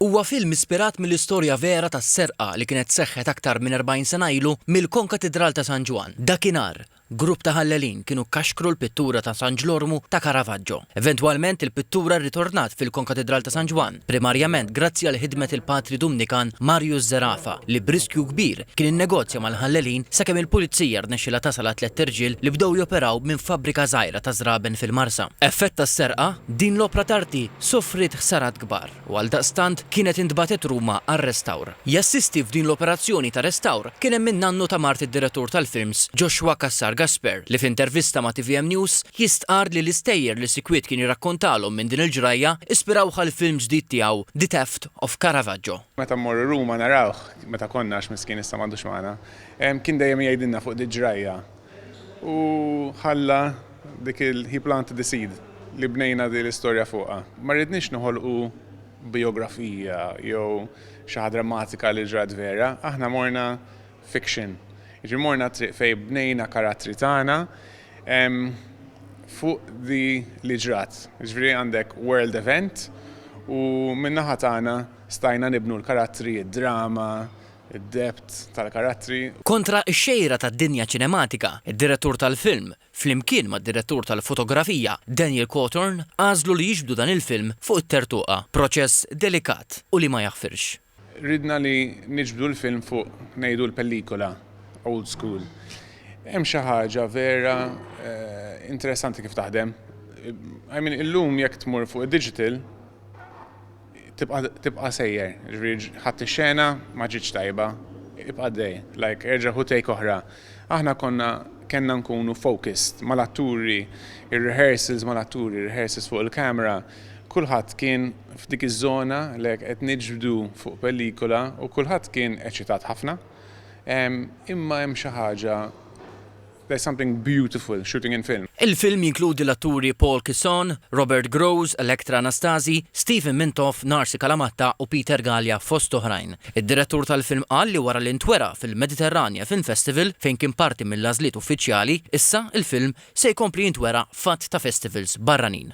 Huwa film ispirat mill-istorja vera ta' serqa li kienet seħħet aktar minn 40 sena ilu mill-Konkatidral ta' San Ġwann. Dakinhar, grupp ta' ħallelin kienu kkaxkru l-pittura ta' San Ġlormu ta' Caravaggio. Eventwalment il-pittura rritornat fil-Konkatidral ta' San Ġwann, primarjament grazzi għal ħidmet il-Patri Dumnikan Marius Zerafa li b'riskju kbir kien innegozja mal-ħallelin sakemm il-Pulizija rnexxilha tasal għat-tliet irġiel li bdew joperaw minn fabbrika żgħira ta' żraben fil-Marsa. Effett tas-serqa, din l-opra t'arti sofriet ħsarat kbar u għaldaqstant kienet intbagħtet Ruma għar-restawr. Jassisti f'din l-operazzjoni ta' restawr kien hemm in-nannu ta' mart id-direttur tal-films Joshua Cassar Gasper li f'intervista ma' tvm News jistqarr li l-istejjer li Sikwit kien jirrakkontalhom minn din il-ġrajja ispirawh għall-film ġdid tiegħu The Theft of Caravaggio. Meta mmorru Ruma narawh, meta konna għax miskien issa m'għadux magħna, kien dejjem jgħidilna fuq dil-ġrajja. U ħalla dik il He planted the seed li bnejna din l-istorja fuqha. Ma rridniex noħolqu bijografija jew xi ħaġa drammatika li ġrat vera, aħna morna fiction. Jiġifieri morna t-triq fejn bnejna karattri tagħna fuq dik li ġrat. Jiġifieri għandek world event u min-naħa tagħna stajna nibnu l-karattri, id-drama, id-depth tal-karattri. Kontra x-xejra tad-dinja ċinematika, id-direttur tal-film, flimkien mad-direttur tal-fotografija, Daniel Cothorn, għażlu li jiġbdu dan il-film fuq it-tertuqa, proċess delikat u li ma jaħfirx. Ridna li niġbdu l-film fuq, ngħidu, l-pellicola old school. Hemm xi ħaġa vera interessanti kif taħdem. I mean, illum jekk tmur fuq id-digital, Tibqa' tibqa' sejjer, jiġifieri ħadt ix-xena ma ġietx tajba, ibqa' għaddej, like erġa' ħu take oħra. Aħna konna kellna nkunu focused mal-atturi, ir-rehearsals mal-atturi, ir-rehearsals fuq il-camera, kulħadd kien f'dik iż-żona like qed niġbdu fuq pellicola u kulħadd kien eċitat ħafna. Imma hemm xi ħaġa There's something beautiful shooting in film. Il-film jinkludi l-atturi Paul Kisson, Robert Grosz, Elektra Anastasi, Stephen Mintoff, Narsi Kalamatta u Peter Galea fost oħrajn. Id-direttur tal-film qal li wara li ntwera fil-Mediterranja Film Festival fejn kien parti mill-għażliet uffiċjali, issa il-film se jkompli jintwera f'għadd ta' festivals barranin.